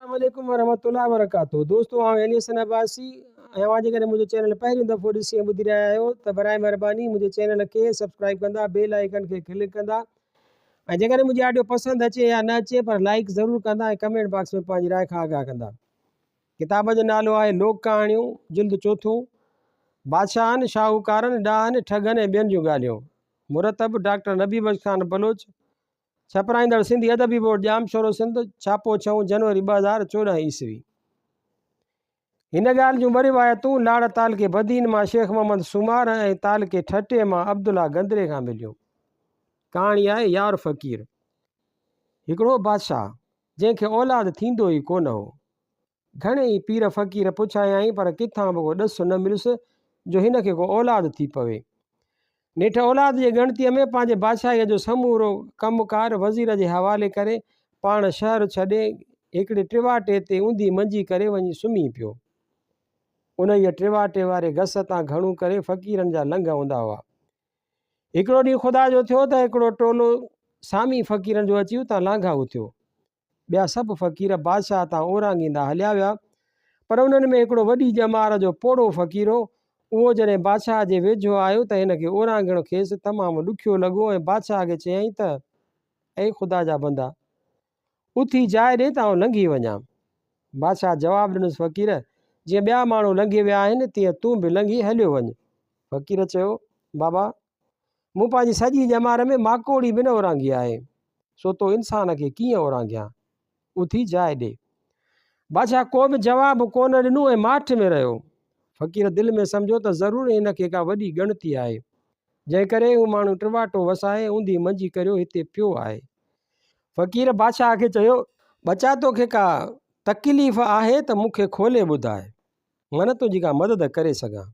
اسلام عليڪم ورحمة الله وبرڪاته دوستو آئون علي حسن عباسي ۽ اوهان جيڪڏهن منهنجو چينل پهريون دفعو ڏسي ۽ ٻڌي رهيا آهيو ته برائي مهرباني منهنجي چينل کي سبسڪرائب ڪندا بيل آئيڪن کي ڪلڪ ڪندا ۽ جيڪڏهن منهنجي آڊيو پسند اچي يا نه اچي پر لائڪ ضرور ڪندا ۽ ڪمينٽ باڪس ۾ پنهنجي راء کان آگاهه ڪندا ڪتاب جو نالو آهي لوڪ ڪهاڻيون جلد چوٿون بادشاهن شاهوڪارن ڏاهن ٺڳن ۽ ٻين جون ڳالهيون مرتب ڊاڪٽر نبي بخش خان بلوچ ڇپرائيندڙ سنڌي ادبي بورڊ ڄام شورو سنڌ ڇاپو ڇهون جنوري ٻه هزار چوڏهن عيسوي هن ڳالهه جون ٻه روايتون لاڙ تعلقي بدين مان شيخ محمد سومار ۽ تعلقي ٺٽي مان عبدالله گندري کان مليون ڪهاڻي آهي يار فقير هڪڙو بادشاهه جنهن کي اولاد ٿيندو ئي ڪونه هو گهڻي ئي پير فقير پڇايائين پر ڪٿان به ڪو ڏس نه مليس جو هن کي ڪو اولاد ٿي پوي. نيٺ اولاد جي ڳڻتيء ۾ پنهنجي بادشاهيء جو سمورو ڪم ڪار وزير جي حوالي ڪري پاڻ شهر ڇڏي هڪڙي ٽواٽي تي اونڌي منجي ڪري وڃي سمهي پيو. انهيء ٽواٽي واري گس تان گهڻو ڪري فقيرن جا لنگهه هوندا هئا. هڪڙو ڏينهن خدا جو ٿيو ته هڪڙو ٽولو سامي فقيرن جو اچي اتان لانگهائو ٿيو. ٻيا سڀ فقير بادشاهه تان اورانگيندا هليا ويا، پر انهن ۾ هڪڙو وڏي ڄمار جو پوڙهو فقير هو، اهو جڏهن بادشاهه جي ويجهو آيو ته هن کي اورانگهڻ کيس تمام ڏکيو لڳو ۽ بادشاهه کي چيائين ته، اي خدا جا بندا! اٿي جاء ڏي ته آئون لنگهي وڃان. بادشاهه جواب ڏنس، فقير! جيئن ٻيا ماڻهو لنگهي ويا آهن، تيئن تون به لنگهي هليو وڃ. فقير چيو، بابا! مون پنهنجي سڄي ڄمار ۾ ماڪوڙي به نه اورانگهي آهي، سو تو انسان کي ڪيئن اورانگهيان؟ اٿي جاء ڏي. بادشاهه ڪو به جواب ڪو نه ڏنو ۽ ماٺ ۾ رهيو. فقير دل ۾ سمجهيو ته ضرور هن کي ڪا وڏي ڳڻتي آهي، جنهن ڪري هو ماڻهو ٽواٽو وسائي اونڌي منجهي ڪريو هتي پيو آهي. فقير بادشاهه کي چيو، ٻچا تو کي ڪا تڪليف آهي ته مون کي کولي ٻڌاء، من تنهنجي ڪا مدد ڪري سگهان.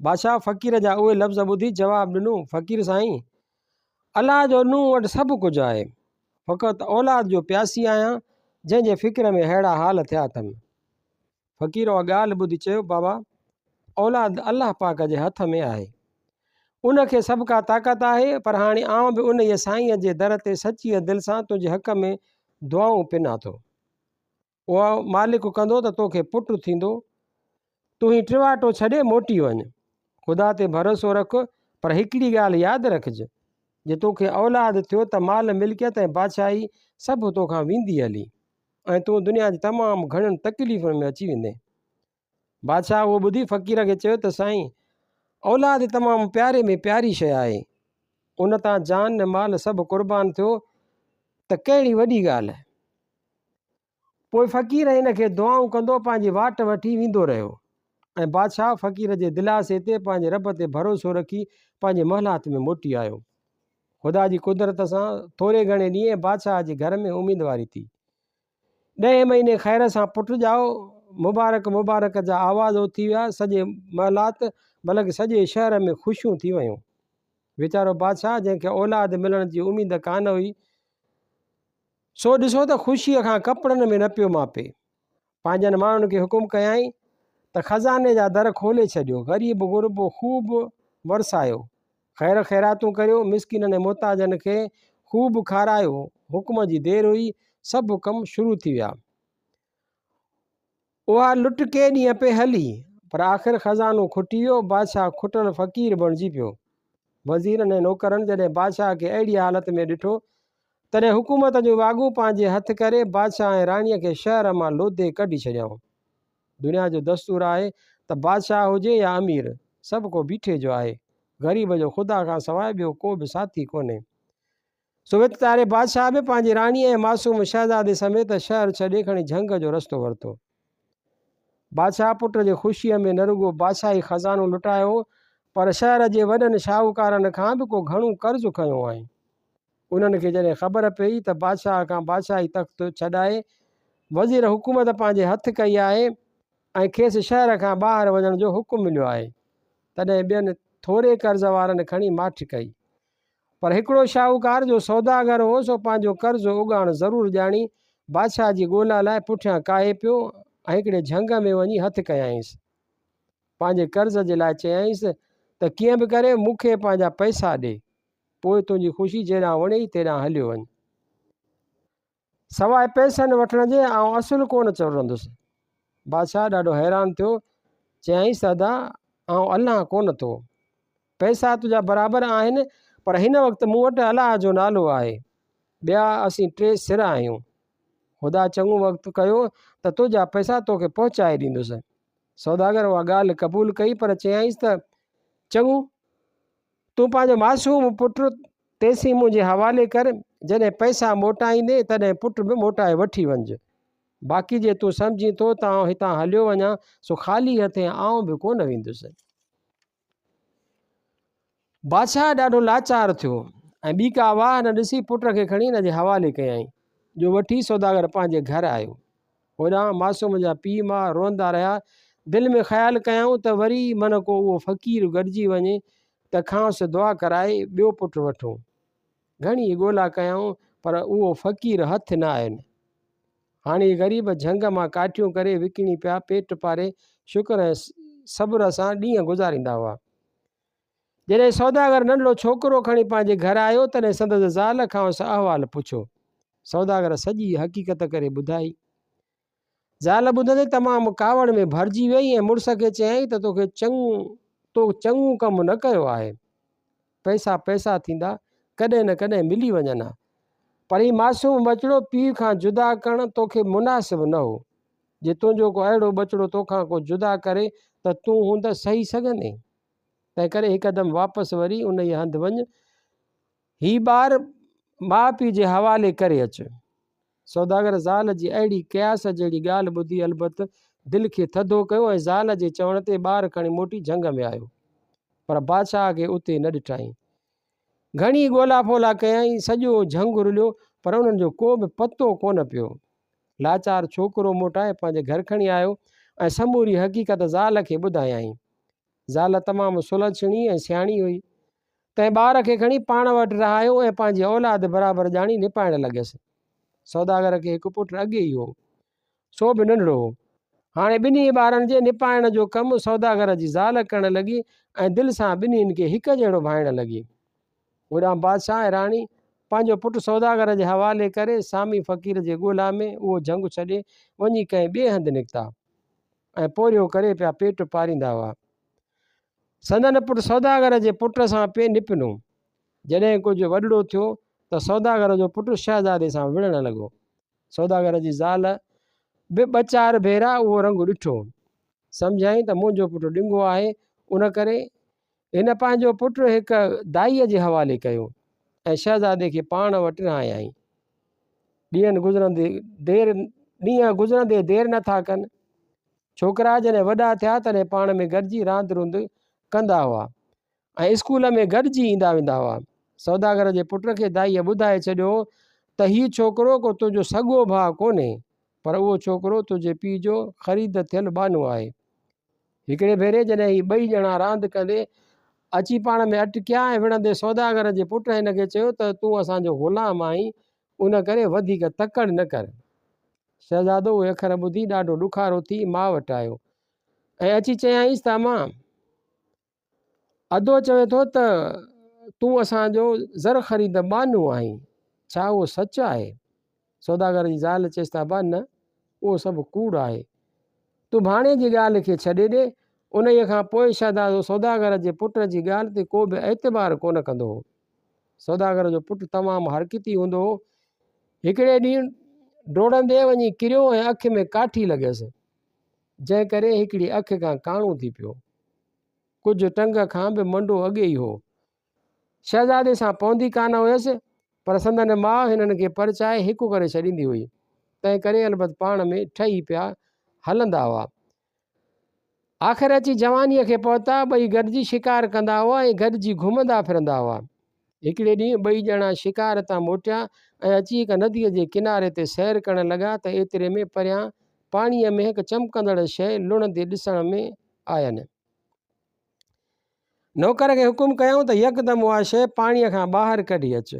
بادشاهه فقير جا اهي لفظ ٻڌي جواب ڏنو، فقير سائين! الله جو نون وٽ سڀ ڪجهه آهي. فقط اولاد جو پياسي آهيان، جنهن جي فڪر ۾ ههڙا حال ٿيا اٿم. فقير اها ڳالهه ٻڌي چيو، بابا! اولاد الله پاڪ جي هٿ ۾ آهي. ان کي سڀ ڪا طاقت آهي، پر هاڻي آئون به انهيء سائينء جي در تي سچيء دل سان تنهنجي حق ۾ دعائون پنان ٿو. اها مالڪ ڪندو ته تو کي پٽ ٿيندو. تون هي ٽواٽو ڇڏي موٽي وڃ. خدا تي ڀروسو رک پر هڪڙي ڳالهه ياد رکج، جي تو کي اولاد ٿيو ته مال ملڪيت ۽ بادشاهي سڀ تو کان ويندي هلي ۽ تون دنيا جي تمام گهڻين تڪليفن ۾ اچي ويندين. بادشاهه اهو ٻڌي فقير کي چيو ته سائين اولاد تمام پياري ۾ پياري شيء آهي ان تان جان ۽ مال سڀ قربان ٿيو ته ڪهڙي وڏي ڳالهه آهي پوء فقير ان کي دعائون ڪندو پنهنجي واٽ وٺي ويندو رهيو ۽ بادشاهه فقير جي دلاسي تي پنهنجي رب تي ڀروسو رکي پنهنجي محلات ۾ موٽي آيو خدا جي قدرت سان ٿوري گهڻي ڏينهن بادشاهه جي گهر ۾ اميدواري ٿي ڏهين مهيني خير سان پٽ ڄائو، مبارڪ مبارڪ جا آواز اٿي ويا، سڄي محلات بلڪ سڄي شهر ۾ خوشيون ٿي ويون. ويچارو بادشاهه جنهن کي اولاد ملڻ جي اميد ڪانه هئي، سو ڏسو ته خوشيء کان ڪپڙن ۾ نه پيو ماپي. پنهنجن ماڻهن کي حڪم ڪيائين ته خزاني جا در کولي ڇڏيو، غريب غربو خوب ورسايو. خير خيراتون ڪريو، مسڪينن ۽ محتاجن کي خوب کارايو. حڪم جي دير هئي، سڀ ڪم شروع ٿي ويا. اها لٽ ڪي ڏينهن پئي هلي، پر آخر خزانو کٽي ويو. بادشاهه کٽل فقير بڻجي پيو. وزيرن ۽ نوڪرن جڏهن بادشاهه کي اهڙيء حالت ۾ ڏٺو، تڏهن حڪومت جو واڳون پنهنجي هٿ ڪري، بادشاهه ۽ راڻيء کي شهر مان لوڌي ڪڍي ڇڏيائون. دنيا جو دستور آهي ته بادشاهه هجي يا امير، سڀ ڪو بيٺي جو آهي. غريب جو خدا کان سواء ٻيو ڪو به ساٿي ڪونهي. سو وت تاري بادشاهه به پنهنجي راڻيء ۽ معصوم شهزادي سميت شهر ڇڏي کڻي جهنگ جو رستو ورتو. بادشاهه پٽ جي خوشيء ۾ نه رڳو بادشاهي خزانو لٽايو پر شهر جي وڏن شاهوڪارن کان به ڪو گهڻو قرض کنيو هئائين. انهن کي جڏهن خبر پيئي ته بادشاهه کان بادشاهي تخت ڇڏائي وزير حڪومت پنهنجي هٿ ڪئي آهي ۽ کيس شهر کان ٻاهر وڃڻ جو حڪم مليو آهي تڏهن ٻين ٿوري قرض وارن کڻي ماٺ ڪئي پر هڪڙو شاهوڪار جو سوداگر هو سو پنهنجو قرض اوڳاڻ ضرور ڄاڻي بادشاهه جي ڳولا لاء پٺيان ڪاهي پيو ۽ هڪڙي جهنگ ۾ وڃي هٿ ڪيائينس پنهنجي قرض جي لاء چيائينس ته ڪيئن به ڪري مون کي پنهنجا پئسا ڏي پوء تنهنجي خوشي جيڏانهن وڻيئي تيڏانهن هليو وڃ. سواء پئسن وٺڻ جي آئون اصل ڪونه چورندس. بادشاهه ڏاڍو حيران ٿيو، چيائينس ته ادا آئون الان ڪونه ٿو. پئسا تنهنجا برابر آهن، پر هن وقت مون وٽ الله جو نالو آهي. ٻيا اسين ٽي سر آهيون. خدا چڱو وقت ڪيو ته تنهنجا پئسا توکي پهچائي ڏيندس. سوداگر اها ڳالهه قبول ڪئي پر چيائينس ته چڱو، تون پنهنجو معصوم پٽ تيسين منهنجي حوالي ڪر، جڏهن پئسا موٽائيندين تڏهن پٽ به موٽائي وٺي وڃج. باقي جي تون سمجهين ٿو ته آئون هتان هليو وڃان سو خالي هٿين آئون به ڪونه ويندس. بادشاهه ڏاڍو لاچار ٿيو ۽ ٻي ڪا واهه نه ڏسي پٽ کي کڻي هن جي حوالي ڪيائين، جو وٺي سوداگر پنهنجي گهر آيو. هوڏانهن معصوم جا پيء ماء روئندا رهيا. دل ۾ خيال ڪيائون ته وري من ڪو اهو فقير گڏجي وڃي ته کانئس دعا ڪرائي ٻيو پٽ وٺون. گهڻي ئي ڳولا ڪيائون پر اهو فقير هٿ نه آين. هاڻي غريب جهنگ مان ڪاٺيون ڪري وڪڻي پيا پيٽ پاري شڪر ۽ صبر سان ڏينهن گذاريندا هئا. جڏهن سوداگر ننڍڙو ڇوڪرو کڻي پنهنجي گهر آيو، تڏهن سندس زال کانئس احوال پڇيو. سوداگر سڄي حقيقت ڪري ٻڌائي. زال ٻڌندي تمام ڪاوڙ ۾ ڀرجي ويئي ۽ مڙس کي چيائين ته توکي چڱو تو چڱو ڪم نه ڪيو آهي. پئسا پئسا ٿيندا، ڪڏهن نه ڪڏهن ملي وڃن ها. پر هي معصوم ٻچڙو پيء کان جدا ڪرڻ توکي مناسب نه هو. جي تنهنجو ڪو اهڙو ٻچڙو توکان ڪو جدا ڪري ته تون هوند سهي سگهندين؟ تنهنڪري هڪ قدم واپس وري انهيء هنڌ وڃ، هي ٻار ماء پيء جي حوالي ڪري اچ. سوداگر زال جي اهڙي قياس جهڙي ڳالهه ٻڌي البت دل کي ٿڌو ڪيو ۽ زال جي چوڻ تي ٻار کڻي موٽي جهنگ ۾ آيو. پر بادشاهه کي اتي نه ڏٺائين. گهڻي ڳولا ڦولا ڪيائين، سڄو جهنگ رليو، پر انهن جو ڪو به پتو ڪونه پيو. لاچار ڇوڪرو موٽائي پنهنجي گهر کڻي آيو ۽ سموري حقيقت زال کي ٻڌايائين. زال تمام سلڇڻي ۽ سياڻي هئي، تنهن ٻار کي کڻي پاڻ وٽ رهايو ۽ پنهنجي اولاد برابر ڄاڻي نپائڻ لڳيس. سوداگر کي هڪ پٽ اڳي ئي هو، سو به ننڍڙو هو. هاڻي ٻنهي ٻارن جي نپائڻ جو ڪم سوداگر جي زال ڪرڻ لڳي ۽ دل سان ٻنهين کي هڪجهڙو ڀائڻ لڳي. هوڏانهن بادشاهه ۽ راڻي پنهنجو پٽ سوداگر جي حوالي ڪري سامي فقير جي ڳولا ۾ اهو جهنگ ڇڏي وڃي ڪنهن ٻئي هنڌ نڪتا ۽ پورهيو ڪري پيا پيٽ پاريندا هئا. سندن پٽ سوداگر جي پٽ سان پئي نپنو. جڏهن ڪجهه وڏڙو ٿيو ته سوداگر جو پٽ شهزادي سان وڙهڻ لڳو. سوداگر جي زال به ٻه چار ڀيرا اهو رنگ ڏٺو. سمجهيائين ته منهنجو پٽ ڏنگو آهي ان ڪري هن پنهنجو پٽ هڪ دائيء جي حوالي ڪيو ۽ شهزادي کي پاڻ وٽ رهايائين. ڏينهن گذرندي دير ڏينهن گذرندي دير نه ٿا ڪن. ڇوڪرا جڏهن وڏا ٿيا تڏهن پاڻ ۾ گڏجي راند روند ڪندا هئا ۽ اسڪول ۾ گڏجي ايندا ويندا هئا. سوداگر جي پٽ کي دائيء ٻڌائي ڇڏيو ته هي ڇوڪرو ڪو تنهنجو سڳو ڀاء ڪونهي پر اهو ڇوڪرو تنهنجي پيء جو خريد ٿيل ٻانهو آهي. هڪڙي ڀيري جڏهن هي ٻئي ڄڻا راند ڪندي اچي پاڻ ۾ اٽڪيا ۽ وڙهندي سوداگر جي پٽ هن کي چيو ته تون اسان جو غلام آهين ان ڪري وڌيڪ تڪڙ نه ڪر. شهزادو اهي اکر ٻڌي ڏاڍو ڏکارو ٿي ماء وٽ آيو ۽ اچي چيائينس ته امان! ادو چوي ٿو ته تون اسان جو زر خريد ٻانهو آهين، ڇا اهو سچ آهي؟ سوداگر جي زال چيس ته ابا نه، اهو سڀ ڪوڙ آهي. تون ڀاڻيجي جي ڳالهه کي ڇڏي ڏي. انهيء کان پوء شهزادو سوداگر جي پٽ جي ڳالهه تي ڪو به اعتبار ڪونه ڪندو هو. سوداگر جو پٽ تمام حرڪتي هوندو هو. هڪڙي ڏينهن ڊوڙندي وڃي ڪريو ۽ اک ۾ ڪاٺي لڳيس. جنهن ڪري هڪڙي اک کان ڪاڻو ٿي پيو. ڪجهه ٽنگ کان به منڊو اڳي ئي هو. شهزادي سان پوندي ڪانه هيس، پر سندن ماء هنن کي پرچائي هڪ ڪري ڇڏيندي هئي، تنهن ڪري البت پاڻ ۾ ٺهي پيا هلندا هئا. آخر اچي جوانيء کي پهتا، ٻئي گڏجي شڪار ڪندا هئا ۽ گڏجي گهمندا ڦرندا هئا. هڪڙي ڏينهن ٻئي ڄڻا شڪار تان موٽيا ۽ اچي هڪ نديء جي ڪناري تي سير ڪرڻ لڳا ته ايتري ۾ پريان پاڻيء ۾ هڪ چمڪندڙ شيء لڙهندي ڏسڻ ۾ آين. نوڪر کي حڪم ڪيائون ته يڪدم اها شيء پاڻيء کان ٻاهر ڪڍي اچ.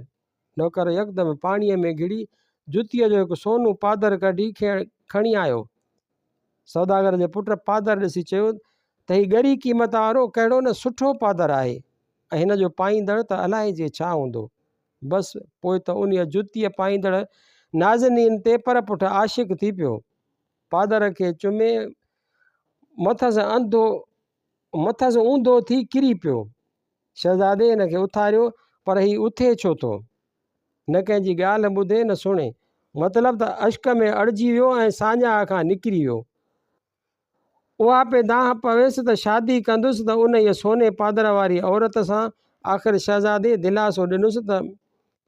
نوڪر يڪدم پاڻيء ۾ گهڙي جتيء جو هڪ سونو پادر ڪڍي کڻي آيو. سوداگر جي پٽ پادر ڏسي چيو ته هي ڳري قيمت وارو ڪهڙو نه سٺو پادر آهي ۽ هن جو پائيندڙ ته الائي جي ڇا هوندو. بس پوء ته انهيء جتيء پائيندڙ نازنين تي پر پٺ عاشق ٿي پيو. پادر کي چمي مٿس انڌو مٿس اونڌو ٿي ڪري پيو. شهزادي هن کي اٿاريو، پر هي اٿي ڇو ٿو؟ نه ڪنهن جي ڳالهه ٻڌي نه سڻي. مطلب ته اشڪ ۾ اڙجي ويو ۽ ساڃاهه کان نڪري ويو. اها پئي دانهن پويس ته شادي ڪندس ته انهيء سوني پادر واريء عورت سان. آخر شهزادي دلاسو ڏنس ته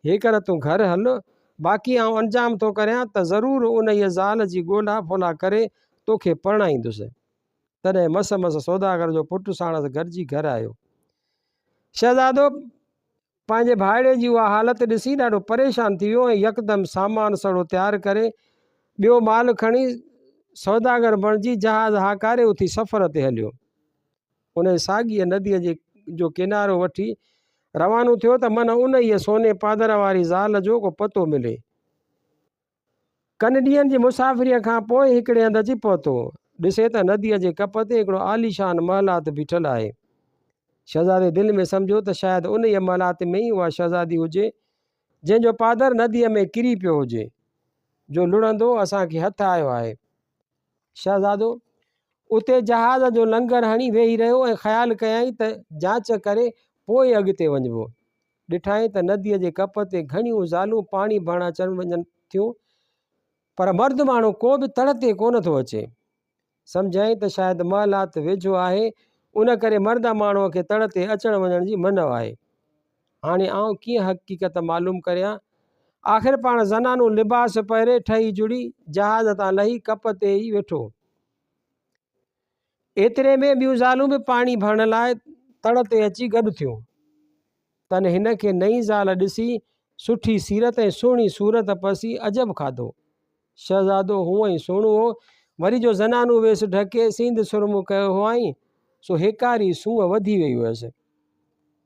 هيڪر تون گهر هل، باقي آئون انجام ٿو ڪريان ته ضرور انهيء زال جي ڳولا ڦولا ڪري توکي پرڻائيندس. تڏهن مس مس سوداگر جو پٽ ساڻس گڏجي گهر آيو. شهزادو پنهنجي ڀائڙي جي اها حالت ڏسي ڏاڍو پريشان ٿي ويو ۽ يڪدم سامان سڙو تيار ڪري، ٻيو مال کڻي، سوداگر بڻجي جهاز هاڪاري اٿي سفر تي هليو. انهيء ساڳيء نديء جي جو ڪنارو وٺي روانو ٿيو ته من انهيء سوني پادر واري زال جو ڪو پتو ملي. ڪن ڏينهن جي مسافريء کان پوء هڪڙي هنڌ اچي پهتو. ڏسي ته نديء جي ڪپ تي هڪڙو عاليشان محلات بيٺل آهي. شهزادي دل ۾ سمجهيو ته شايد انهيء محلات ۾ ئي اها شهزادي هجي، جنهن جو پادر نديء ۾ ڪري پيو هجي، جو لڙهندو اسان کي هٿ آيو آهي. شهزادو اتي جهاز جو لنگر هڻي ويهي رهيو ۽ خيال ڪيائين ته جاچ ڪري پوء ئي اڳتي وڃبو. ڏٺائين ته نديء جي ڪپ تي گهڻيون زالون پاڻي ڀرڻ اچڻ وڃن ٿيون، پر مرد ماڻهو ڪو به تڙ تي ڪونه ٿو اچي. سمجهيائين ته شايد محلات ويجهو آهي، ان ڪري مرد ماڻهوء کي تڙ تي اچڻ وڃڻ جي منع آهي. هاڻي آئون ڪيئن حقيقت معلوم ڪريان؟ آخر پاڻ زنانو لباس پهري ٺهي جڙي جهاز تان لهي ڪپ تي ئي ويٺو. ايتري ۾ ٻيون زالون به پاڻي ڀرڻ لاء تڙ تي اچي گڏ ٿيون. تن هن کي نئين زال ڏسي سٺي سيرت ۽ سهڻي صورت پسي عجب کاڌو. شهزادو هونء ئي سهڻو هو، وري جو زنانو ويس ڍڪي سينڌ سرمو ڪيو هئائين، سو هيڪاري سونهن وڌي ويئي هيس.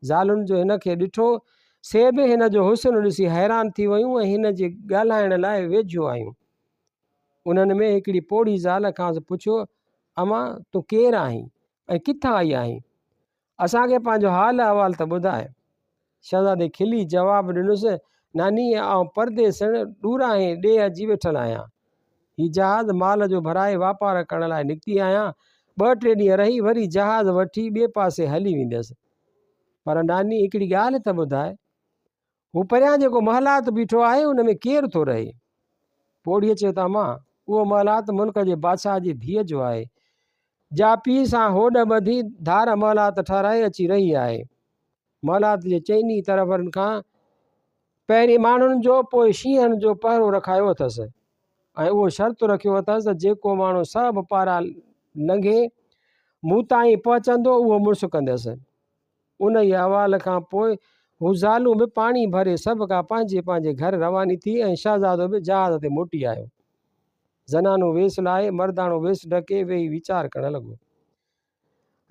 زالن جو هن کي ڏٺو، سي به هن جو حسن ڏسي حيران ٿي ويون ۽ هن جي ڳالهائڻ لاء ويجهو آيون. انهن ۾ هڪڙي پوڙهي زال کانئس پڇيو، امان، تون ڪير آهين ۽ ڪٿان آئي آهين؟ اسان کي پنهنجو حال احوال ته ٻڌاء. شهزادي کلي جواب ڏنس، نانيء آئون پرديسڻ، ڏورانهين ڏيهه اچي ويٺل آهيان. هي جهاز مال جو ڀرائي واپار ڪرڻ لاء نڪتي آهيان، ٻه ٽي ڏينهن رهي وري جهاز وٺي ٻئي پاسي هلي وينديس. پر ناني هڪڙي ڳالهه ته ٻڌاء، هو پريان جيڪو محلات بيٺو آهي ان ۾ ڪير ٿو رهي؟ پوڙهيء چيو ته امان، اهو محلات ملڪ جي بادشاهه جي ڌيء جو آهي، جا پيء سان هوڏ ٻڌي ڌار محلات ٺهرائي اچي رهي آهي. محلات جي چئني طرفن کان پهرين ماڻهن جو پوء شينهن جو پهرو رکايو اٿس ۽ اهو شرط رکيو اٿس ته جيڪو ماڻهو سڀ پارا لنگهي مون تائين پهچندو اهو مڙس ڪندس. انهيء احوال کان پوء هو زالون به پاڻي ڀري سڀ ڪا پنهنجي پنهنجي گهر رواني ٿي ۽ شهزادو به جهاز تي موٽي آيو. زنانو ويس لاهي، مرداڻو ويس ڍڪي ويهي ويچار ڪرڻ لڳو.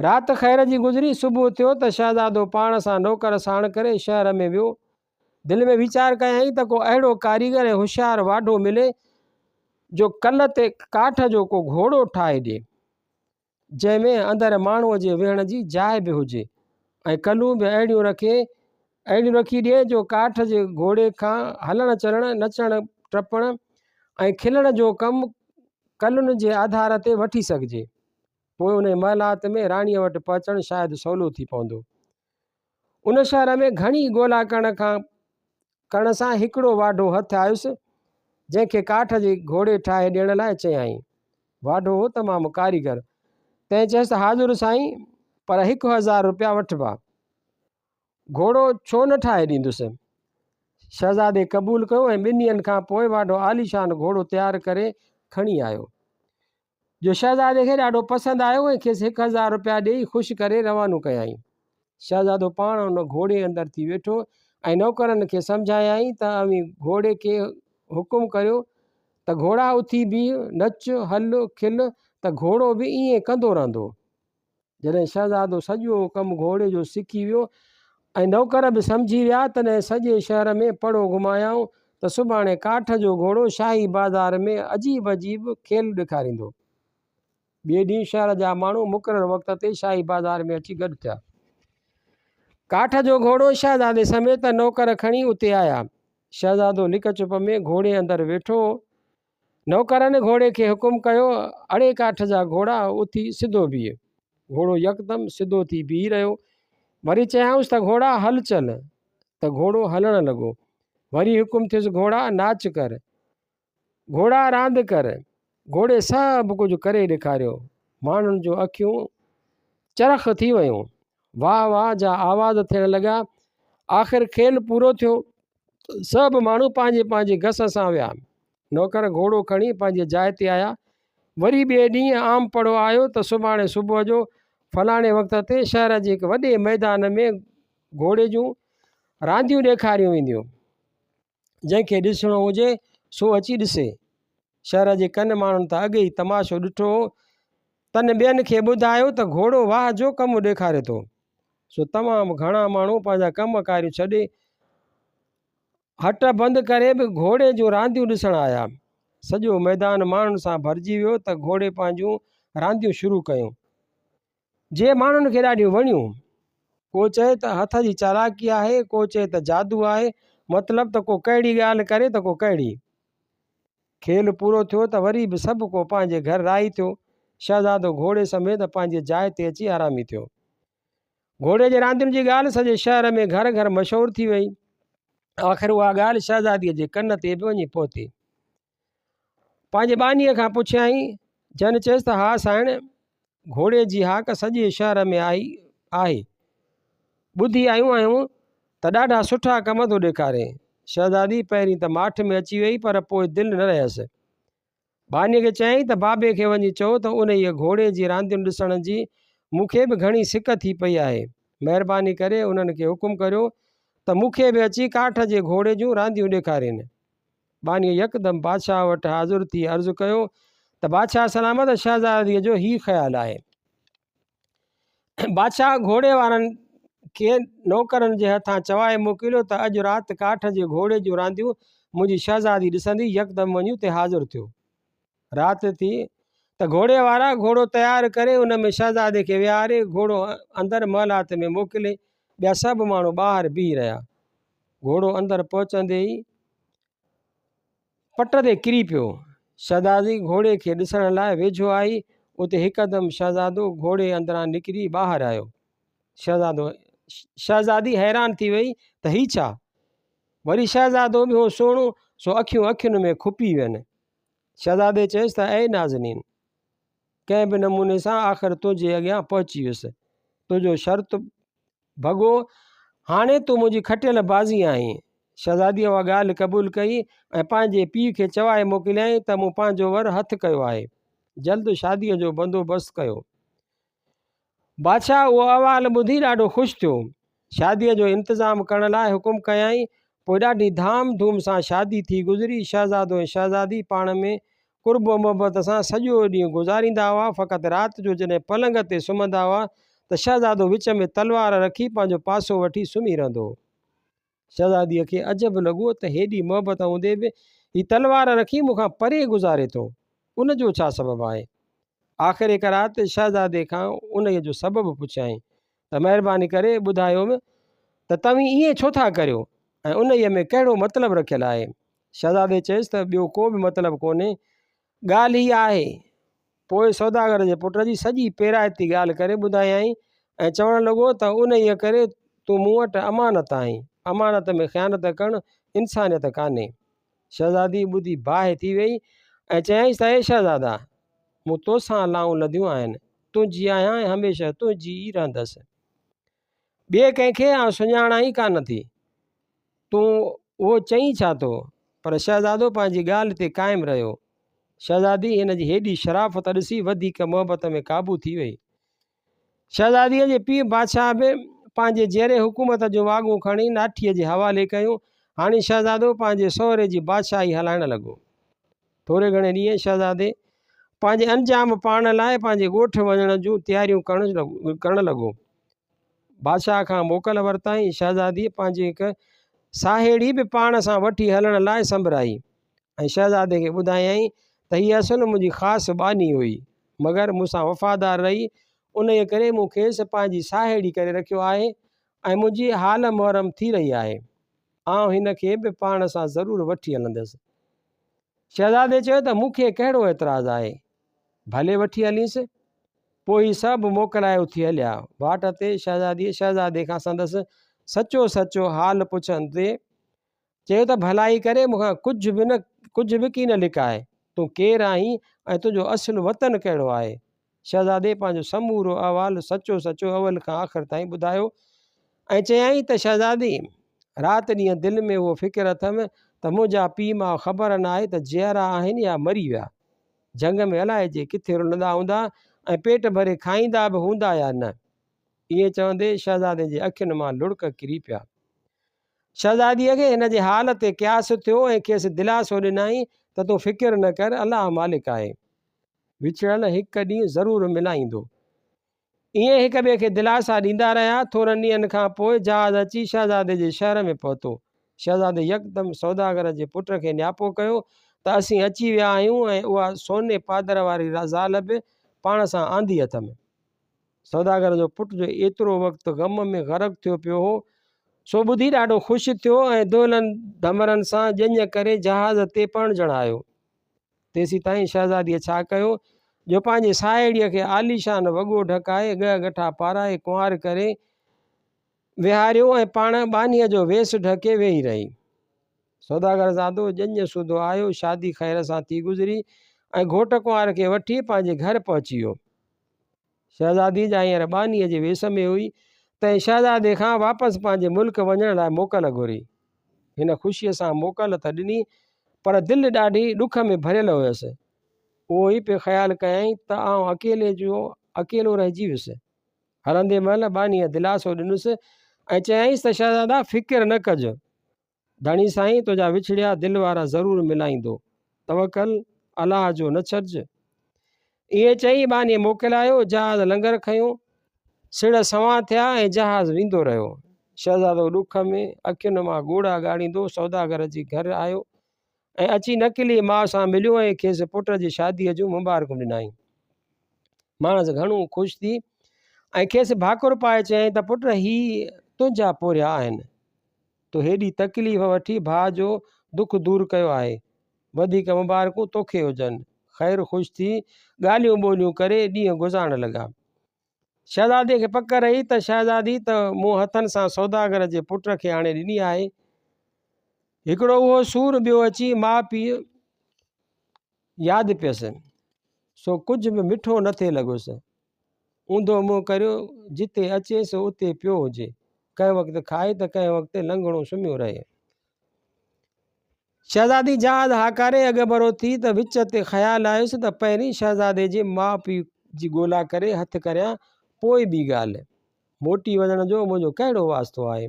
رات خير جي گذري، صبح ٿيو ته شهزادو پاڻ سان نوڪر ساڻ ڪري شهر ۾ ويو. دل ۾ ويچار ڪيائين ته ڪو اهڙو ڪاريگر ۽ هوشيار واڍو ملي، جو ڪل تي ڪاٺ جو ڪو گهوڙو ٺاهي ڏئي. جنهن ۾ اندر ماڻهوء جي ويهڻ جي جاء به هجي ۽ ڪلون به اهڙيون رکي اهڙيون رکي ڏئي جو ڪاٺ جي گهوڙي کان هلڻ چلڻ، نچڻ ٽپڻ ۽ کلڻ جو ڪم ڪلن جي آڌار تي وٺي سگهجي. پوء انهيء محلات ۾ راڻيء وٽ پهچڻ شايد سولو ٿي پوندو. ان شهر ۾ گهڻي ڳولا ڪرڻ کان ڪرڻ سان هڪڙو واڍو هٿ آيس، جنهن کي ڪاٺ جي گهوڙي ٺاهي ڏيڻ لاء چيائين. واڍو هو تمام ڪاريگر، تنهن چيس ته حاضر سائين، پر هڪ هزار روپيا وٺبا. گهوڙو ڇو نه ٺاهي ڏيندس. شهزادي قبول ڪيو ۽ ٻن ڏينهن کان پوء واڍو عاليشان گهوڙو تيار ڪري کڻي آيو. جو شهزادي کي ڏاڍو پسند آيو ۽ کيس هڪ هزار روپيا ڏيئي خوش ڪري روانو ڪيائين. شهزادو پاڻ ان گهوڙي اندر ٿي ويٺو ۽ نوڪرن کي سمجهايائين ته اوهين گهوڙي کي حڪم ڪريو ته گهوڙا اٿي بيهه، نچ، هل، کل ته گهوڙو به ائين ڪندو رهندو. جڏهن شهزادو سڄو ڪم گهوڙي جو سکي ويو ۽ نوڪر به سمجهي ويا، تڏهن سڄي شهر ۾ پڙو گهمايائون ته سڀاڻي ڪاٺ جو گهوڙو شاهي بازار ۾ عجيب عجيب کيل ڏيکاريندو. ٻئي ڏينهن شهر جا ماڻهو مقرر وقت تي شاهي بازار ۾ اچي گڏ ٿيا. ڪاٺ جو گهوڙو شهزادي سميت نوڪر کڻي اتي آيا. شهزادو لڪ چپ ۾ گهوڙي اندر ويٺو هو. نوڪرن گهوڙي کي حڪم ڪيو، اڙي ڪاٺ جا گهوڙا، اٿي سڌو بيهه. گهوڙو يڪدم سڌو ٿي بيهي رهيو. وري چيائونس ته گهوڙا هل چل، ته گهوڙو هلڻ لڳو. وري حڪم ٿيس گهوڙا ناچ ڪر، گهوڙا راند ڪر. گهوڙي سڀ ڪجهه ڪري ڏيکاريو. ماڻهن جون اکيون چرخ ٿي ويون. واھ واھ جا آواز ٿيڻ لڳا. آخر کيل پورو ٿيو. سڀ ماڻهو پنهنجي پنهنجي گس سان ويا. نوڪر گهوڙو کڻي پنهنجي جاء تي آيا. وري ٻئي ڏينهن عام پڙهو آيو ته سڀاڻي صبح جو فلاڻي وقت تي شهر جي هڪ وڏي ميدان ۾ گهوڙي جون رانديون ڏيکاريون وينديون. جنهن کي ڏسڻو هجي سو اچي ڏسي شهر جي ڪن ماڻهن ته اڳ ئي تماشو ڏٺو هو تن ٻين کي ٻڌايو ته گهوڙو واهه جو ڪم ڏيکاري ٿو سو تمام گهڻا ماڻهو پنهنجا ڪم ڪاريون ڇڏي هٽ بند ڪري به گهوڙي جون رانديون ڏسڻ آيا سڄو ميدان ماڻهن سان ڀرجي ويو ته گهوڙي پنهنجون رانديون شروع ڪيون جي ماڻهن کي ڏاڍيون وڻيون. ڪو چئي ته هٿ جي چالاڪي آهي، ڪو چئي ته جادو آهي، مطلب ته ڪو ڪهڙي ڳالهه ڪري ته ڪو ڪهڙي. کيل پورو ٿيو ته وري به سڀ ڪو پنهنجي گهر راهي ٿيو. شهزادو گهوڙي سميت پنهنجي جاء تي اچي آرامي ٿيو. گهوڙي جي راندين جي ڳالهه سڄي شهر ۾ گهر گهر مشهور ٿي وئي. آخر اها ڳالهه شهزاديء جي ڪن تي به وڃي پهتي. پنهنجي ٻانهيء کان پڇيائين، جنهن چيس ته ها سائڻ، گهوڙي جي هاڪ سڄي شهر ۾ آئي آهي. ٻڌي آيون آهيون ته ڏاڍا سٺا ڪم ٿو ڏيکاري. شهزادي پهرين ته ماٺ ۾ اچي ويئي پر پوء دل نه رهيس. ٻانهيء کي چيائين ته بابي کي وڃي چئو ته انهيء گهوڙي جي رانديون ڏسڻ جي مون کي به گهڻي سڪ ٿي پئي آهي. مهرباني ڪري انهن کي حڪم ڪريو ته مون کي به اچي ڪاٺ جي گهوڙي جون رانديون ڏيکارين. ٻانهيء يڪدم بادشاهه وٽ حاضر ٿي عرض ڪيو ته بادشاهه سلامت شهزاديء جو هي خيال آهي. بادشاهه گهوڙي وارن کي نوڪرن جي هٿان چوائي موڪليو ته اڄ رات ڪاٺ جي گهوڙي جون رانديون منهنجي شهزادي ڏسندي يڪدم وڃي اتي حاضر ٿيو. رات ٿي ته گهوڙي وارا گهوڙو تيار ڪري ان ۾ شهزادي کي ويهاري گهوڙو اندر محلات ۾ موڪلي ٻيا سڀ ماڻهو ٻاهر بيهي رهيا. گهوڙو اندر پهچندي ئي پٽ تي ڪري پيو. شهزادي گهوڙي کي ڏسڻ لاء ويجهو آئي اتي هڪدم شهزادو گهوڙي اندران نڪري ٻاهر آيو. شهزادو شهزادي حيران ٿي وئي ته هي ڇا؟ وري شهزادو ٻيو سهڻو سو اکيون اکين ۾ کپي وين. شهزادي چيس ته اي نازنين! ڪنهن به نموني سان آخر تنهنجي اڳيان پهچي ويس. تنهنجو شرط ڀڳو. هاڻي تون منهنجي کٽيل بازي آهين. شهزاديء اها ڳالهه قبول ڪئي ۽ پنهنجي پيء کي چوائي موڪليائين ته مون پنهنجو ور هٿ ڪيو آهي. جلد شاديء جو بندوبست ڪيو. بادشاهه اهو احوال ٻڌي ڏاڍو خوش ٿيو. شاديء جو انتظام ڪرڻ لاء حڪم ڪيائين. پوء ڏاڍي ڌام ڌوم سان شادي ٿي گذري. شهزادو ۽ شهزادي پاڻ ۾ قرب و محبت سان سڄو ڏينهن گذاريندا هئا. فقط رات جو جڏهن پلنگ تي سمهندا هئا ته شهزادو وچ ۾ تلوار رکي پنهنجو پاسو وٺي سمهي رهندو هو. شهزاديء کي عجب لڳو ته هيڏي محبت هوندي به هي تلوار رکي مون کان پري گذاري ٿو، ان جو ڇا سبب آهي؟ آخر هڪ رات شهزادي کان انهيء جو سبب پڇيائين ته مهرباني ڪري ٻڌايوم ته توهين ائين ڇو ٿا ڪريو ۽ انهيء ۾ ڪهڙو مطلب رکيل آهي؟ شهزادي چيس ته ٻيو ڪو به مطلب ڪونهي ڳالهه هيء آهي. پوء سوداگر جي پٽ جي سڄي پيرائتي ڳالهه ڪري ٻڌايائين ۽ چوڻ لڳو ته انهيء ڪري تون مون وٽ امانت آهين. امانت ۾ خيانت ڪرڻ انسانيت ڪانهي. شهزادي ٻڌي باهه ٿي ويئي ۽ چيائينس ته اي شهزادا! مون توسان لائون لڌيون آهن، تنهنجي آهيان ۽ هميشه تنهنجي ئي رهندس. ٻئي ڪنهن کي آئون سڃاڻان ئي ڪانه ٿي. تون اهو چئين ڇا ٿو؟ پر شهزادو پنهنجي ڳالهه تي قائم رهيو. شهزادي هن جي هيڏي شرافت ڏسي وڌيڪ محبت ۾ قابو ٿي وئي. شهزاديء جي پيء بادشاهه به پنهنجي جيئري حڪومت جون واڳون کڻي ناٺيء جي حوالي ڪيون. هاڻي شهزادو پنهنجي سهري جي بادشاهي هلائڻ لڳو. ٿوري گهڻي ڏينهن شهزادي پنهنجي انجام پاڻ لاء پنهنجي ڳوٺ وڃڻ جون تياريون ڪرڻ لڳو. بادشاهه کان موڪل ورتائين. شهزاديء پنهنجي هڪ ساهيڙي به پاڻ سان وٺي هلڻ لاء سنبرايئي ۽ شهزادي کي ٻڌايائين ته هيء اصل منهنجي خاص ٻانهي هئي، مگر مون سان وفادار رهي، انهيء ڪري مون کيس پنهنجي ساهيڙي ڪري رکيو آهي ۽ منهنجي حال محرم ٿي رهي آهي. آئون هن کي به پاڻ سان ضرور وٺي هلندس. شهزادي چيو ته مون کي ڪهڙو اعتراض آهي. ڀلي وٺي هلينس. پوء هي سڀ موڪلائي اٿي هليا. واٽ تي شهزاديء شهزادي کان سندس سچو سچو حال پڇڻ تي چيو ته ڀلائي ڪري مون کان ڪجهه به نه ڪجهه به ڪين لڪاء. تون ڪير آهين ۽ تنهنجو اصل وطن ڪهڙو آهي؟ شهزادي پنهنجو سمورو احوال سچو سچو اول کان آخر تائين ٻڌايو ۽ چيائين ته شهزادي! رات ڏينهن دل ۾ اهو فڪر اٿم ته منهنجا پيء ماء خبر ناهي ته جيئرا آهن يا مري ويا. جنگ ۾ الائي جي ڪٿي رلندا هوندا ۽ پيٽ ڀري کائيندا به هوندا يا نه. ائين چوندي شهزادي جي اکين مان لڙڪ ڪري پيا. شهزاديء کي هن جي حال تي قياس ٿيو ۽ کيس دلاسو ڏنائين ته تون فڪر نه ڪر الله مالڪ آهي. وڇڙن هڪ ڏينهن ضرور ملائيندو. ائين هڪ ٻئي کي دلاسا ڏيندا رهيا. ٿورن ڏينهن کان پوء جهاز اچي شهزادي جي شهر ۾ پهتو. شهزادي يڪدم سوداگر جي پٽ کي نياپو ڪيو ته اسين اچي ويا آهيون ۽ اها سوني پادر واري زال به پاڻ سان آندي اٿم. سوداگر جو پٽ جو ايترو وقت غم ۾ غرق ٿيو پيو هو، سو ٻڌي ڏاڍو خوش ٿيو ۽ دولن ڌمرن سان ڄڃ ڪري جهاز تي پڻ چڙهايو. تيسيتائين شهزاديء ڇا ڪيو، جو پنهنجي ساهيڙيء کي عاليشان وڳو ڍڪائي، ڳهه ڳٺا پارائي، ڪنوار ڪري ويهاريو ۽ پاڻ ٻانهيء جو ويس ڍڪي ويهي رهي. سوداگرزادو ڄڃ سوڌو آيو، شادي خير سان ٿي گذري ۽ گهوٽ ڪنوار کي وٺي پنهنجي گهر پهچي ويو. شهزادي جا هينئر ٻانهيء جي ويس ۾ هئي، تنهن شهزادي کان واپس پنهنجي ملڪ وڃڻ لاء موڪل گهري. هن خوشيء سان موڪل ته ڏني، پر دل ڏاڍي ڏک ۾ ڀريل هيس. اهو ئي پئي خيال ڪيائين ته آئون اڪيلي جو اڪيلو رهجي ويس. هلندي مهل ٻانهيء دلاسو ڏنس ۽ چيائينس ته شهزادا فڪر نه ڪج. ڌڻي سائين تنهنجا وڇڙيا دل وارا ضرور ملائيندو توڪل الله جو نه ڇڏج. ائين چئي ٻانهي موڪلايو جهاز لنگر کنيو سڙهه سنوان ٿيا ۽ جهاز ويندو رهيو شهزادو ڏک ۾ اکين مان ڳوڙها ڳاڙيندو سوداگر جي گهر آيو ۽ اچي نڪلي ماء سان مليو ۽ کيس پٽ جي شاديء جون مبارڪون ڏنائين. ماڻس گهڻو خوش ٿي ۽ کيس ڀاڪر پائي چيائين ته پٽ هي تنهنجا پورهيا آهن. تو هيڏي تڪليف وٺي ڀاء جو دک دور ڪيو آهي. وڌيڪ مبارڪون توکي هجن. خير خوش ٿي ڳالهيون ٻولهيون ڪري ڏينهن گذارڻ لڳا. شهزادي کي پڪ رهي ته شهزادي ته مون هٿن سان سوداگر جي پٽ کي آڻي ڏني آهي هڪڙو اهو سور ٻيو اچي ماء پيء ياد پيس سو ڪجهه به مٺو نه ٿي لڳس اوندو منهن ڪريو جتي اچي سو اتي پيو هجي ڪنهن وقت کائي ته ڪنهن وقت لنگهڻو سمهيو رهي شهزادي جهاز هاڪاري اڳڀرو ٿي ته وچ تي خيال آيس ته پهرين شهزادي جي ماء پيء جي ڳولا ڪري هٿ ڪريان پوء ٻي ڳالهه. موٽي وڃڻ جو منهنجو ڪهڙو واسطو آهي.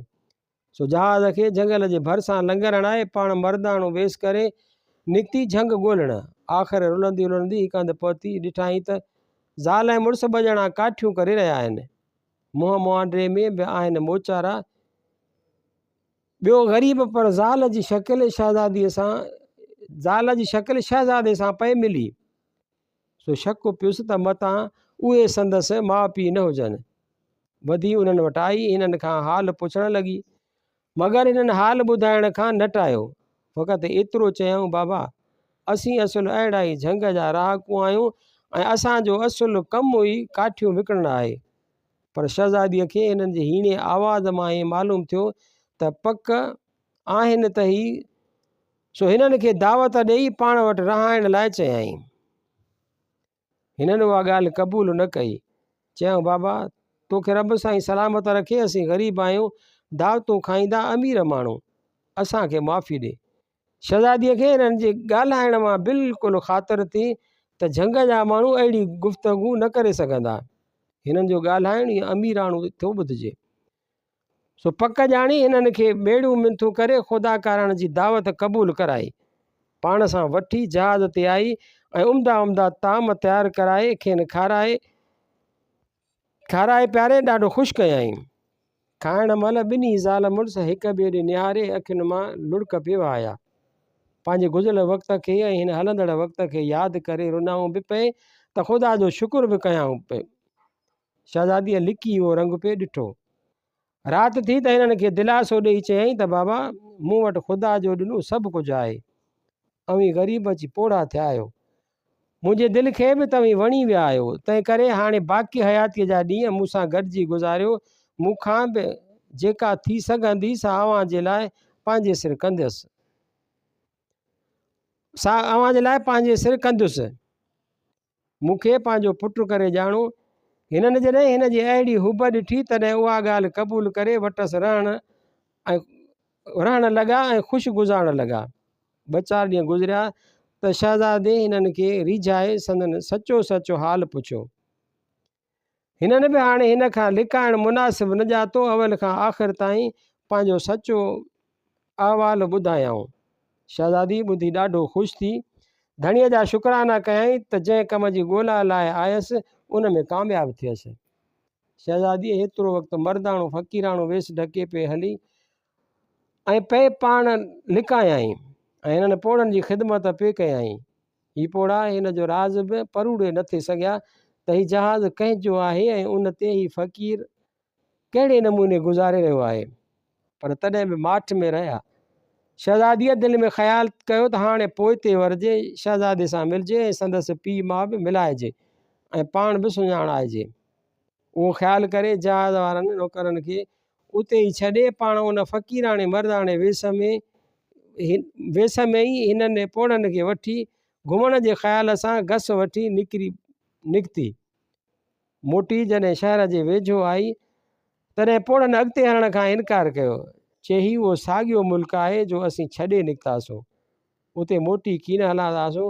سو جهاز کي جهنگل جي ڀرسان لنگر هڻائي پاڻ مرداڻو ويس ڪري نڪتي جهنگ ڳولڻ. آخر رلندي رلندي هڪ هنڌ پهتي ڏٺائين ته زال ۽ مڙس ٻه ڄڻا ڪاٺيون ڪري رهيا آهن. منهن مهانڊري ۾ به آهن موچارا. ٻيو غريب پر زال جي شڪل شهزاديء سان زال جي شڪل شهزادي سان پئي ملي، سو شڪ پيس ته متان اهي سندس ماء پيء نه هجن. وڌي انهن وٽ آئي هنن کان حال پڇڻ لڳي، مگر هنن حال ٻڌائڻ کان نه ٽايو، فقط ايترو چيائون بابا! اسين اصل اهڙا ئي جهنگ جا رهاڪو آهيون ۽ اسان جو اصل ڪم ئي ڪاٺيون وڪڻڻ آهي. پر شهزاديء کي هنن جي هيڻي آواز مان ائين معلوم ٿيو ته پڪ آهن ته هي سو هنن کي دعوت ڏيئي پاڻ وٽ رهائڻ لاء چيائين. هنن اها ڳالهه قبول نه ڪئي. چيائون بابا تو کي رب سائين سلامت رکي اسين غريب آهيون دعوتون کائيندا امير ماڻهو اسان کي معافي ڏي. شھزاديء کي انھن جي ڳالھائڻ مان بلڪل خاطر ٿي ته جھنگ جا ماڻھو اھڙي گفتگو نه ڪري سگھندا. ھنن جو ڳالھائڻ ئي اميراڻو ٿو ٻڌجي. سو پڪ ڄاڻي ھنن کي ٻيڙيون منٿون ڪري خدا ڪارڻ جي دعوت قبول ڪرائي. پاڻ سان وٺي جھاز تي آئي ۽ عمدا عمدا طعام تيار ڪرائي کين کارائي کارائي پياري ڏاڍو خوش ڪيائين. کائڻ مهل ٻنهي زال مڙس هڪ ٻئي ڏي نهاري اکين مان لڙڪ پيوا آيا. پنهنجي گذريل وقت کي ۽ هن هلندڙ وقت کي ياد ڪري رنائون به پئي ته خدا جو شڪر به ڪيائون پئي. شهزاديء لڪي اهو رنگ پئي ڏٺو. رات ٿي ته هنن کي دلاسو ڏيئي چيائين ته بابا مون وٽ خدا جو ڏنو سڀ ڪجهه آهي اوهين غريب اچي پوڙها ٿيا آهيو منهنجي دل کي به توهين وڻي ويا آهيو تنهن ڪري هاڻي باقي حياتيء جا ڏينهن مون سان گڏجي گذاريو مون کان به جيڪا ٿي سگهندي سا اوهان جي لاء پنهنجي سر ڪنديس سا اوهان جي لاء پنهنجي سر ڪنديس مون کي پنهنجو پٽ ڪري ڄاڻو. هنن جڏهن هن جي اهڙي حب ڏٺي، تڏهن اها ڳالهه قبول ڪري وٽس رهڻ رهڻ لڳا ۽ خوش گذارڻ لڳا. ٻه چار ڏينهن گذريا ته شهزادي هنن کي ريجهائي سندن سچو سچ حال پڇيو. هنن به هاڻي هن کان لڪائڻ مناسب نه ڄاتو اول کان آخر تائين پنهنجو سچو احوال ٻڌايائون. شهزادي ٻڌي ڏاڍو خوش ٿي ڌڻيء جا شڪرانا ڪيائين ته جنهن ڪم جي ڳولا لاء آيس ان ۾ ڪامياب ٿيس. شهزاديء هيترو وقت مرداڻو فقيراڻو ويس ڍڪي پئي هلي ۽ پئي پاڻ لڪايائين ۽ هنن پوڙهن جي خدمت پئي ڪيائين. هي پوڙها هن جو راز به پروڙي نه ٿي سگهيا ته هي جهاز ڪنهن جو آهي ۽ ان تي هي فقير ڪهڙي نموني گذاري رهيو آهي. پر تڏهن به ماٺ ۾ رهيا. شهزاديء دل ۾ خيال ڪيو ته هاڻي پوئتي ورجي شهزادي سان ملجي ۽ سندس پيء ماء به ملائجي ۽ پاڻ به سڃاڻائجي. اهو خيال ڪري جهاز وارن نوڪرن کي اتي ئي ڇڏي پاڻ ان فقيراڻي مرداڻي ويس ۾ ويس ۾ ئي هنن پوڙهن کي وٺي گهمڻ جي خيال سان گس وٺي نڪري نڪتي. موٽي جڏهن شهر جي ويجهو آئي تڏهن پوڙهن اڳتي هلڻ کان انڪار ڪيو. چي هي اهو ساڳيو ملڪ آهي جو اسين ڇڏي نڪتاسون. اتي موٽي ڪين هلان ٿاسون.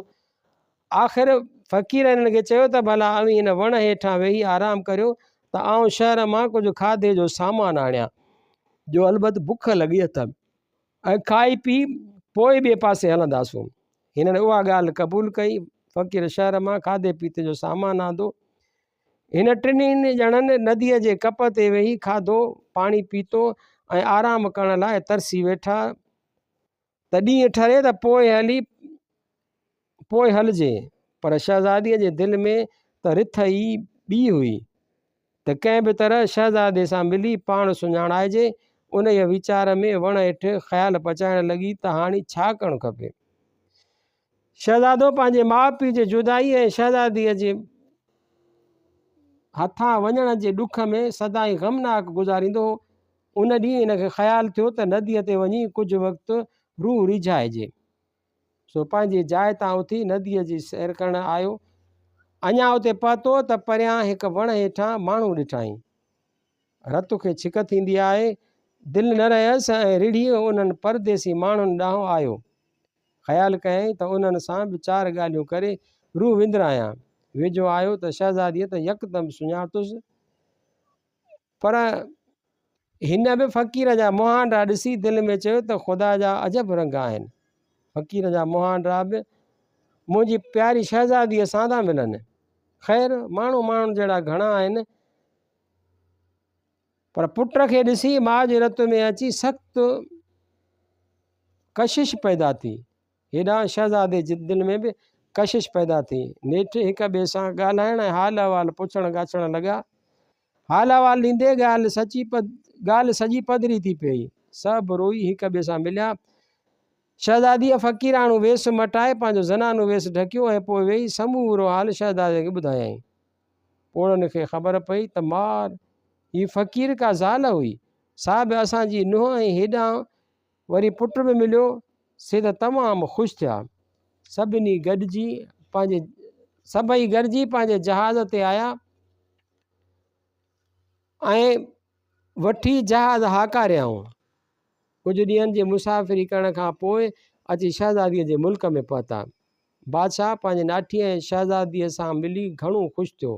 آخر فقير هنن کي چيو ته ڀلا اوهين هن وڻ هيٺان ويهي آرام ڪريو ته آئون شهر مان ڪجهه کاڌي جو سامان آڻيان، جو البت بک لڳي اٿم، ۽ کائي پي پوء ٻئي پاسي هلنداسون. هنن اها ڳالهه قبول ڪئي. فقير شهر مان کاڌي پيتي جو سامان آندو. هن ٽنهي ڄڻن نديء جي ڪپ تي ويهي کاڌو پاڻي پيتو ۽ آرام ڪرڻ لاء ترسي ويٺا. ته ڏينهن ٺري ته پوء هلي پوء هلجي. پر شهزاديء جي دل ۾ ته رٿ ئي ٻي هئي ته ڪنهن به طرح شهزادي سان ملي پاڻ سڃاڻائجي. انهيء ويچار ۾ وڻ هيٺ خيال پچائڻ لڳي ته هاڻي ڇا ڪرڻ کپي. شهزادو پنهنجي ماء پيء جي جدائي ۽ شهزاديء جي هٿان وڃڻ جي ڏک ۾ سدائين غمناڪ گذاريندو هو. ان ڏينهن هن کي خيال ٿيو ته نديء تي وڃي ڪجهه وقت روح ريجهائجي. سو پنهنجي جاء تان اٿي نديء جي سير ڪرڻ آيو. اڃا اتي پهتو ته پريان هڪ وڻ هيٺان ماڻهو ڏٺائين. رت کي ڇڪ ٿيندي آهي. دل نه رهيس ۽ رڙهي انهن پرديسي ماڻهن ڏانهن آيو. خيال ڪيائين ته انهن سان به چار ڳالهيون ڪري روح وندرايان. ويجهو آيو ته شهزاديء ته يڪدم سڃاتوس، پر هن به فقير جا مهانڊا ڏسي دل ۾ چيو ته خدا جا عجب رنگ آهن. فقير جا مهانڊا به منهنجي پياري شهزاديء سان ٿا ملن. خير، ماڻهو ماڻهن جهڙا گهڻا آهن. پر پٽ کي ڏسي ماء جي رت ۾ اچي سخت ڪشش پيدا ٿي هيڏانهن شهزادي جي دل ۾ به ڪشش پيدا ٿي نيٺ هڪ ٻئي سان ڳالهائڻ ۽ حال احوال پڇڻ ڳاڇڻ لڳا حال احوال ڏيندي ڳالهه سچي پد ڳالهه سڄي پڌري ٿي پئي سڀ روئي هڪ ٻئي سان مليا شهزادي فقيرانو ويس مٽائي پنهنجو زنانو ويس ڍڪيو ۽ پوء ويهي سمورو حال شهزادي کي ٻڌايائين پوڙهن کي خبر پئي ته مار! هي فقير ڪا زال هئي، سا به اسان جي نونهن ۽ هيڏانهن وري پٽ به مليو، سي ته تمام خوش ٿيا. سڀني گڏجي پنهنجي سڀئي گڏجي پنهنجي جهاز تي آيا ۽ وٺي جهاز هاڪاريائون. ڪجهه ڏينهن جي مسافري ڪرڻ کان پوء اچي شهزاديء جي ملڪ ۾ پهتا. بادشاهه پنهنجي ناٺيء ۽ شهزاديء سان ملي گهڻو خوش ٿيو.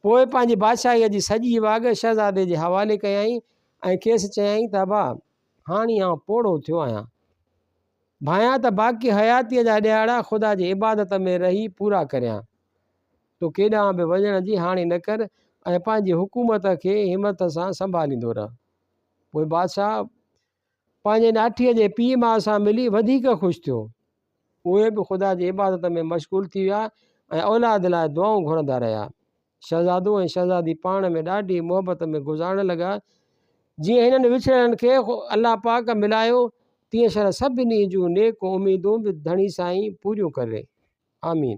پوء پنهنجي بادشاهيء جي سڄي واڳ شهزادي جي حوالي ڪيائين ۽ کيس چيائين ته ابا! هاڻي آئون پوڙهو ٿيو آهيان. ڀانئيان ته باقي حياتيء جا ڏهاڙا خدا جي عبادت ۾ رهي پورا ڪريان. تو ڪيڏانهن به وڃڻ جي هاڻي نه ڪر ۽ پنهنجي حڪومت کي همٿ سان سنڀاليندو رهه. پوء بادشاهه پنهنجي ناٺيء جي پيء ماء سان ملي وڌيڪ خوش ٿيو. اهي به خدا جي عبادت ۾ مشغول ٿي ويا ۽ اولاد لاء دعائون گهرندا رهيا. شهزادو ۽ شهزادي پاڻ ۾ ڏاڍي محبت ۾ گذارڻ لڳا. جيئن هنن وڇڙيلن کي الله پاڪ ملايو، تيئن شرح سڀني جون نيڪ اميدون به ڌڻي سائين پوريون ڪري. آمين.